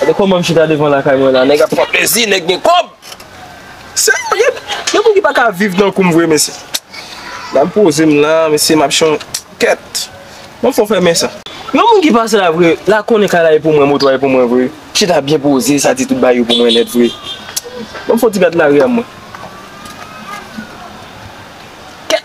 Gade koman m chita devan lakay mwen la nèg ap pran plezi nèg gen kob Seum gen moun ki pa ka viv tankou m vre mesye la m poze m la mesye m ap chon kèt m fon fèmen sa. Yon moun ki pase la vre la konnen kay la e pou mwen moto a e pou mwen vre chita byen poze sa di tout bagay yo pou mwen nèt vre banm fon ti gad lari a mwen kèt.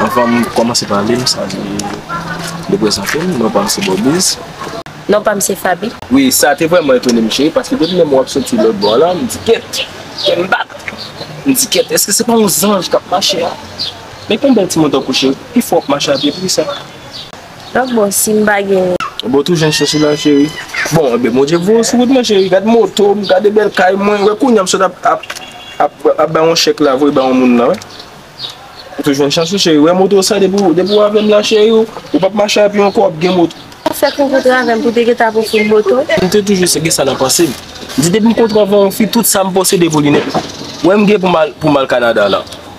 Anvan m kòmanse pale, m salye de prezante m. Non pa m se Bobby's. Non pa m se Faby. Wi, sa te vrèman etone m cheri, paske depi lè m wè w ap soti lòt bò la, m di kèt, kè m bat. M di kèt, èske se pa yon zanj k ap mache a? Men konn bèl timoun tankou w cheri, pi fò w ap mache a pye pou kisa? Sak bon sim pa genyen. Bon tou jan chèche la cheri. Bon ebyen bondye voye w sou wout mwen cheri gad moto m gade bèl kay mwen wè kounya m sot ap bay yon chèk la voye bay yon moun la wè ou tou jwenn chans ou cheri wè moto sa depi w avèm la cheri ou pap mache avyon ankò wap gen moto. Ou fèk rankontre avèm pou te gentan ap ofri m moto? M te toujou gen sa nan panse m m di depi m kontre avèk yon fi tout sa m posede pou li nèt wè m gen pou m al kanada la.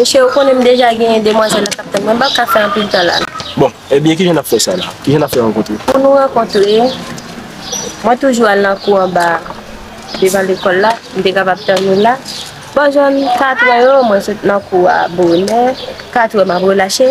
Mesye, ou konnen m deja genyen demwazèl la k ap tann mwen. M p ap ka fè anpil tan la. Bon, ebyen ki jan n ap fè sa la? Ki jan n ap fè rankontre? Pou nou rankontre, mwen toujou al nan kou anba a, devan lekòl la. M te kapab tann ou la. Bò jan katrè yo, mwen sot nan kou a bonè. Katrè, m ap relache.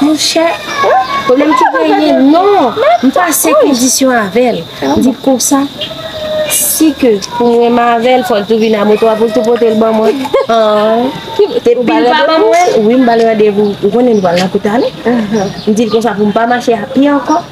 Monchè, pwoblèm ki genyen, non, m pa se kondisyon avè l. M di konsa, si ke pou m renmen avè l, fò l tou vin a moto a pou l tou pote l ban mwen. Depi l pa ban mwen l, wi m ba l randevou. Ou konnen nou pral nan kou tale. M di l konsa pou m pa mache a pye ankò.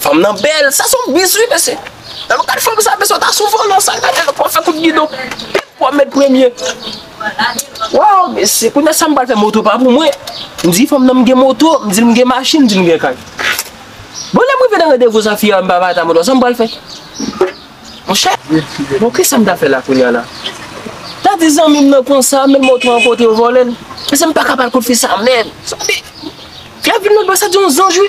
Fanm nan bel, sa son bis wi mesye. Nan nou gad fanm sa mesye ta sou volan sa gade lòt wap fè kout gidon pip wap met premye. Waw mesye kounye sa m pral fè moto pa pou mwen. M di fanm nan m gen moto, m di l m gen machin, m di l m gen kay. Bon lèm rive nan randevou sa fi a m pa bay ta moto sa m pral fè. Monchè, bon kisa m ta fè la kounye la. Ta di zanmi m nan konsa men moto an kote yo vòlè l. Mesye m paka bal kout fi sa menm. Fi a vin lòt bò sa di yon zanj wi.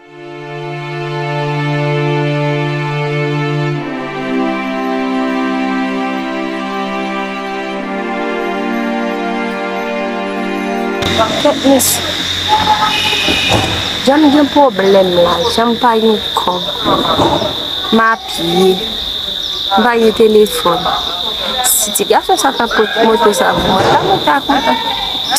Pakèt mesye Jan m gen pwoblèm la Jan m pa gen kòb M apiye M pa gen telefòn Si ti gason sa ta pot moto sa pou mwen m ta kontan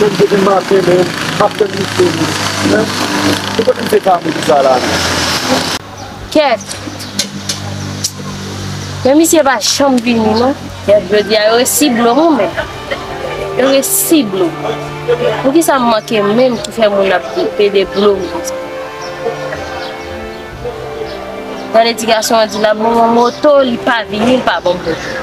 Menm depi maten menm map tann misye wi hein se kote misye ka mouri sa la menm. Kèt Men misye pa janm vini non. Kèt jodi a yo resi blom ou menm yo resi blom pou kisa m manke menm ki fè moun ap pede blom konsa tande ti gason an di lap ban mwen moto li pa vini li pa ban m moto.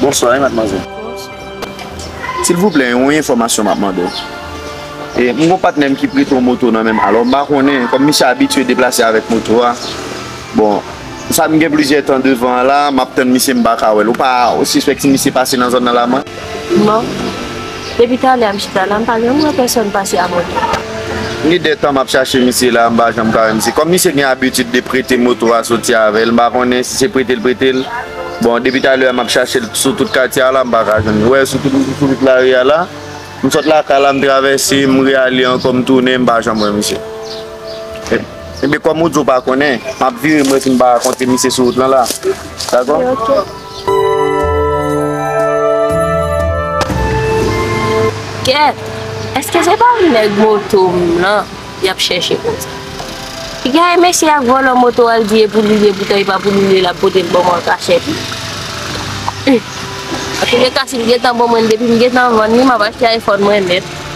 Bonswa wi madmwazèl. Silvouplè yon enfòmasyon map mande w. E m gon patnè m ki prete yon moto nan men m alò m pa konnen kòm misye abitye deplase avèk moto a bon sa m gen plizyè tan devan an la map tann misye m pa ka wè l ou pa sispèk si misye pase nan zòn nan la mwen? Non. Depi talè a m chita la, m pa janm wè pèsòn pase avè m. Sa gen de tan m ap chache misye la, m pa janm ka wè misye. Kòm misye gen abitid de prete moto a soti avè l, m pa konnen si se prete l prete l. Bon, depi talè a m ap chache l sou tout katye a la, m pa ka jwenn l. Ou wè, sou tout lari a la, m sot lakay la, m travèse, m reale ankò, m tounen, m pa janm wè misye. Enben, kòm ou di ou pa konnen, m ap vire m wè si m pa ka kontre misye sou wout lan la. Dakò? Gèt! Eske se pa nèg moto m lan y ap chèche konsa? Li gaye mesye ak vòlò moto al di e pou li ye poutan e pa pou li ye l ap pote l ban mwen an kachèt. Humm! Antoulèka si l gentan ban mwen l depi m gentan vann li m ap achte iPhone mwen nèt.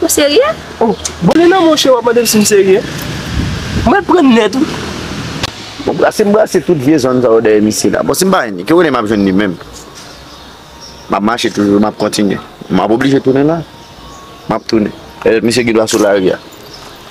Ou serye? Oh, bon lè nan mwen chè wap mande m si m serye? Mwen pran nèt wi. Bon brase m brase tout vye zòn sa yo dèyè misye la. Bon si m pa jwenn li, ki kote m ap jwenn li menm? M ap mache toujou, m ap kontinye. M ap oblije tounen la. M ap tounen. Pètèt misye gen dwa sou lari a.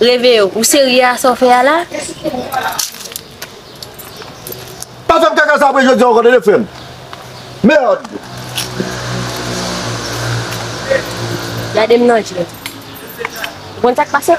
Reve yo, ou serye a sa w fè a la? Pa fè m kaka sa apre jodi a ankò tande frè m. Merd! Gade m nan je. Ou konn sa k pase?